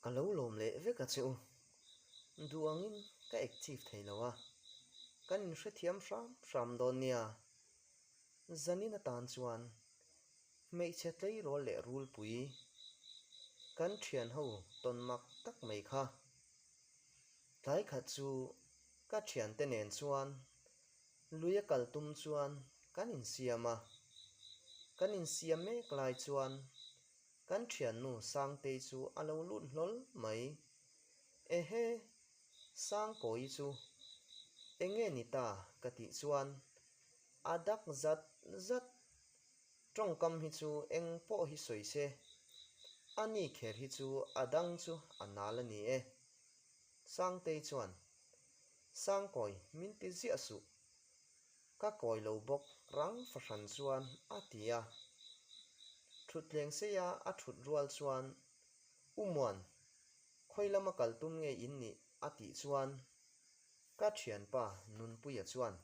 Ka lo lawm leh vek a che u, duangin ka ek chif thei lo a, kan in hrethiam hram hram dawn nia. Zanin atan chuan hmeichhe tleirawl leh rulpui kan thian ho tawn mak tak mai kha. Tlai khat chu ka thian te nen chuan lui a kal tum chuan kan in siam a, kan in siam mek lai chuan Kan thiannu Sangtei chu a lo lut hlawl mai, Ehe, Sangkawi chu enge ni ta ka tih chuan a dak zat zat, Tawngkam hi chu eng pawh hi sawi se, a ni kher hi chu a dang chu a nal a ni e. Sangtei chuan, Sangkawi min ti ziah suh. Ka kawi lo bawk rang fahran chuan a ti a. Thuthleng seia a thut rual chuan, U Muan, khawi lama kal tum ngei in nih a tih chuan ka thianpa Nunpuia chuan,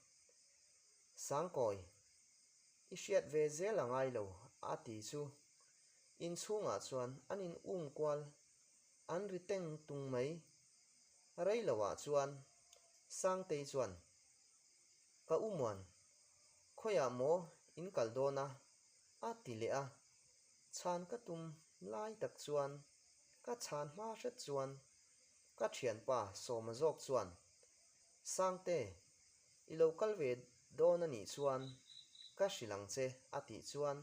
Sangkawi, i hriat ve zel a ngai lo a ti chu. Inchhungah chuan an in um kual, an ri teng tung mai. Rei lo ah chuan Sangtei chuan, Ka u muan, khawiah maw in kal dawn a? a ti leh a. Chhan ka tum lai tak chuan ka chhan hma hret chuan ka thianpa Sawma zawk chuan, Sangte, i lo kal ve dawn a nih chuan ka hrilh ang che a tih chuan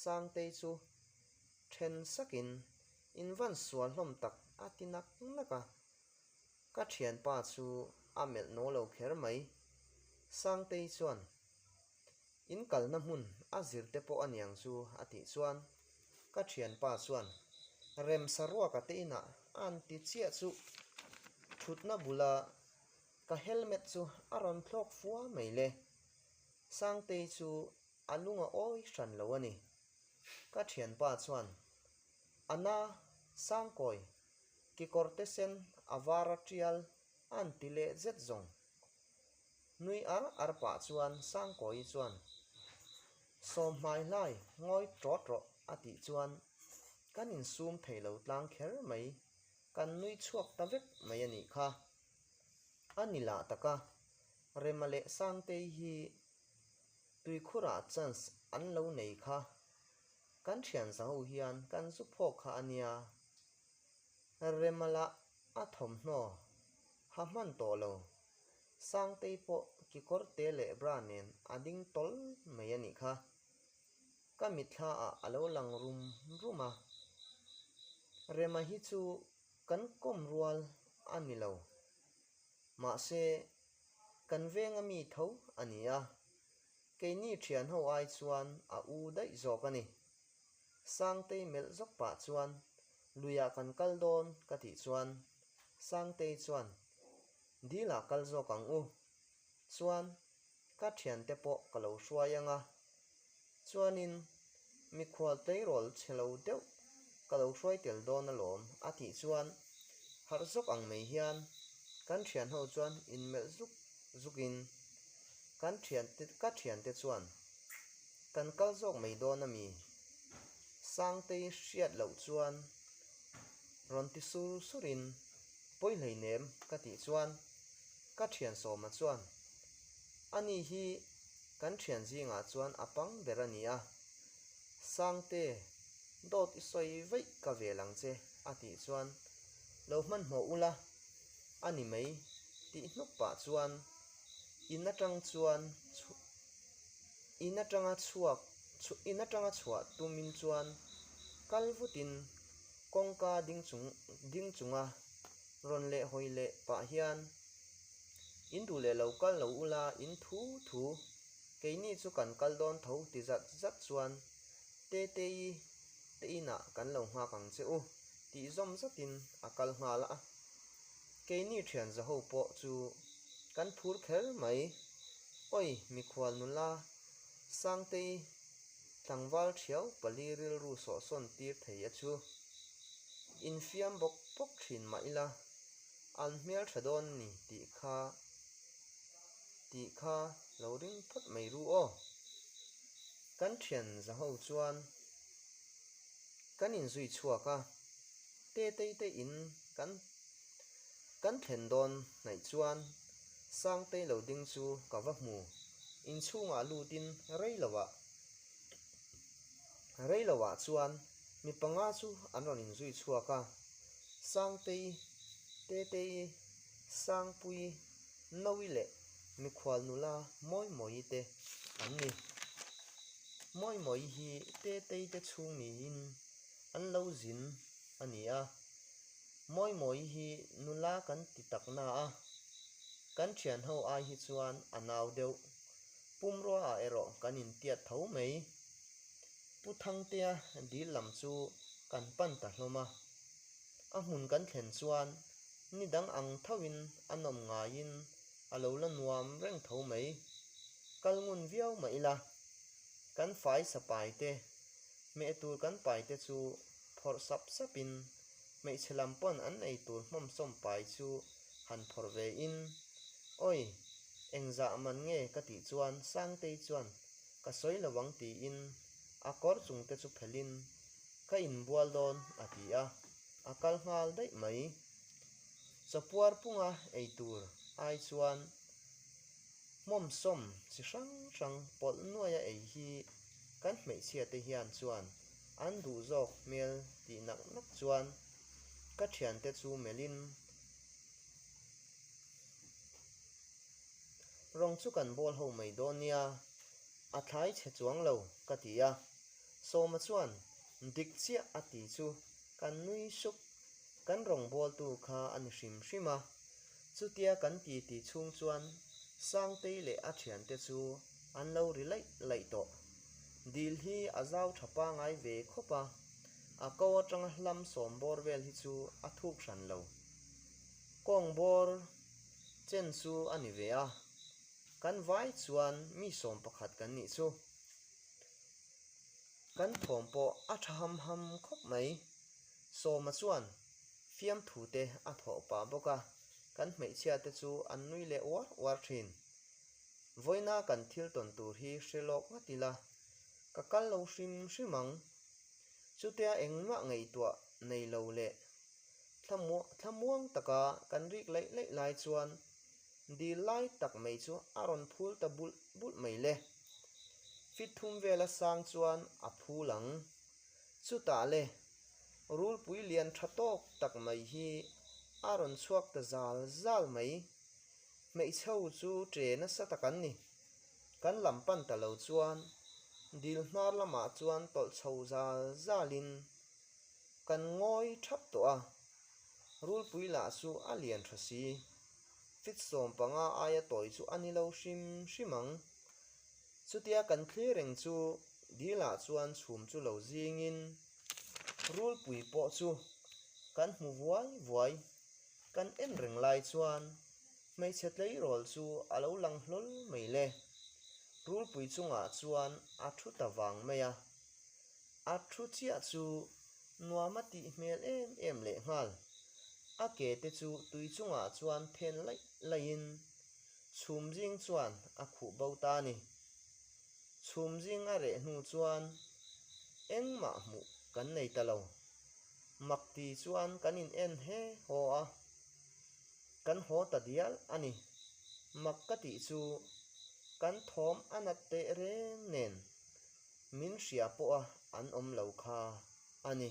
Sangtei chu then sakin invansual hlawm tak a ti nak nak a. Ka thianpa chu a melh naw lo kher mai. Sangtei chuan, In kalna hmun a zirte pawh a niang chu a tih chuan ka thianpa chuan remsa ruak a tein a an ti chiah chu thutna bula ka helmet chu a rawn thlawk fua mai le. Sangtei chu a lung a awi hran lo a ni. Ka thianpa chuan, Ana, Sangkawi, Kekawr te sen a vara tial an ti leh zet zawng. Nui ar ar pah chuan Sangkawi chuan Sawmhmai hlai ngawi trawh trawh a tih chuan kan in sum thei lo tlang kher mai, kan nui chhuak ta vek mai a nih kha. A ni lah tak a, Rema leh Sangtei hi tuikhurah chance an lo nei kha. Kan thiansangu hian kan zu phawk kha a nia, Remala a thawmhnaw ha hman tawh lo, Sangtei pawh kekawr te leh bra nen a ding tawl mai a nih kha, ka mitthlaah a lo lang rum rum a, Rema hi chu kan kawm rual a ni lo, mahse kan venga mi tho a ni a. Keini thian ho ai chuan a u daih zawk a ni. Sangtei melh zawk pah chuan, Luiah kan kal dawn ka tih chuan Sangtei chuan, Dilah kal zawk ang u. Chuan, Ka thiante pawh ka lo hruai ang a. Chuanin Mikhual tleirawl chhe lo deuh ka lo hruai tel dawn alawm a tih chuan harh zawk ang mai hian kan thian ho chuan in melh zuk zuk in kan thian te ka thian te chuan kan kal zawk mai dawn a mi Sangtei hriat loh chuan rawn ti sur sur in pawi hlei nem ka tih chuan ka thian sawma chuan Ani hi kan thian zingah chuan a pang ber a ni a, Sangte, dawt i sawi vaih ka vel ang che a tih chuan lo hmanhmawh ula, a ni mai tih hnup pah chuan in atang chuan in atanga chhuak in atanga chhuah tum in chuan kal vut in kawngka ding chung ding chunga rawn leh hawi leh pah hian In duh leh lo kal lo u la, in thu thu. Keini chu kan kal dawn tho ti zat zat chuan Tetei teinah kan lo nghak ang che u tih zawm zatin a kal nghal a. Keini thianza ho pawh chu kan phur kher mai. Awi mikhual nula, Sangtei tlangval thiau pali rilru sawhsawn tir thei a chu. Infiam bawk bawk thin mah ila. An hmeltha dawn a ni tih kha tih kha lo ring phawt mai ru aw. Kan thian za ho chuan kan inzui chhuak a, te Teite in kan kan thlen dawn hnaih chuan Sangtei lo ding chu ka va hmu. Inchhungah lutin rei lohah rei lohah chuan. Mi panga chu an rawn inzui chhuak a, Sangtei, Tetei, Sangpui, Nawi leh mikhual nula Mawimawii te an ni. Mawimawii hi Tetei te chhung niin an lo zin a ni a. Mawimawii hi nula kan ti tak na a, kan thianho ai hi chuan a nau deuh. Pumruaah erawh kan intiat tho mai. Pu Thangtea dil lam chu kan pan ta hlawm a, a hmun kan thlen chuan ni dang ang thauhin an awm ngaiin a lo la nuam reng tho mai. Kal ngun viau mah ila kan faisa paite, hmeh tur kan paite chu phawrh sap sapin hmeichhe lam pawn an ei tur hmawmsawm pai chu han phawrh vein, Awi, engzah man nge ka tih chuan Sangtei chuan Ka sawi lo ang tiin a kawr chung te chu phelhin ka inbual dawn a ti a, a kal nghal daih mai. Chapuar punga ei tur ai chuan hmawmsawm chi hrang hrang pawlh nuai a ei hi kan hmeichhia te hian chuan an duh zawk hmel tih nak nak chuan ka thiante chu melhin Rawng chu kan bawl ho mai dawn nia, a thlai chhe chuang lo ka ti a. Sawma chuan, Dik chiah a ti chu kan nui sup. Kan rawng bawltu kha a ni hrim hrim a. Chutia kan ti ti chhung chuan Sangtei leh a thiante chu an lo ri laih laih tawh. Dil hi a zau tha pangai ve khawp a, a ko atanga hlam sawm bawr vel hi chu a thuk hran lo. Kawng bawr. Chen chu a ni ve a, kan vai chuan mi sawm pakhat kan nih chu. Kan thawm pawh a tha ham ham khawp mai. Sawma chuan fiamthu te a thawh pah bawk a, kan hmeichhia te chu an nui leh uar uar thin. Vawina kan thil tawn tur hi hre lawk nghat ila, ka kal lo hrim hrim ang. Chutia engmah ngaihtuah nei lo leh Thla muang taka kan rik laih laih lai chuan dil lai tak mai chu a rawn phul ta bulh bulh mai le. Fit thum vela sang chuan a phul ang. Chutah le, rulpui lian tha tawk tak mai hi a rawn chhuak ta zal zal mai. Hmeichhe ho chu che nasa tak an ni. Kan lam pan ta lo chuan dil hnar lamah chuan tawlh chho zal zalin Kan ngawi thap tawh a, Rulpui lah chu a lian tha si. Tlitsawm panga aia tawi chu a ni lo hrim hrim ang. Chutia kan thlereng chu dilah chuan chhum chu lo zingin Rulpui pawh chu kan hmu vuai vuai. Kan en reng lai chuan hmeichhe tleirawl chu a lo lang hlawl mai le. Rulpui chungah chuan a thu ta vang mai a. A thu chiah chu nuam a tih hmel em em lehnghal. A ke te chu tui chungah chuan phen laih laihin chhum zing chuan a khuh bo ta a ni. Chhum zing a reh hnu chuan engmah hmuh kan nei ta lo. Mak ti chuan kan in en he haw a, kan haw ta dial a ni. Mak ka tih chu kan thawm a nat teh reng nen Min hria pawh a an awm lo kha a ni.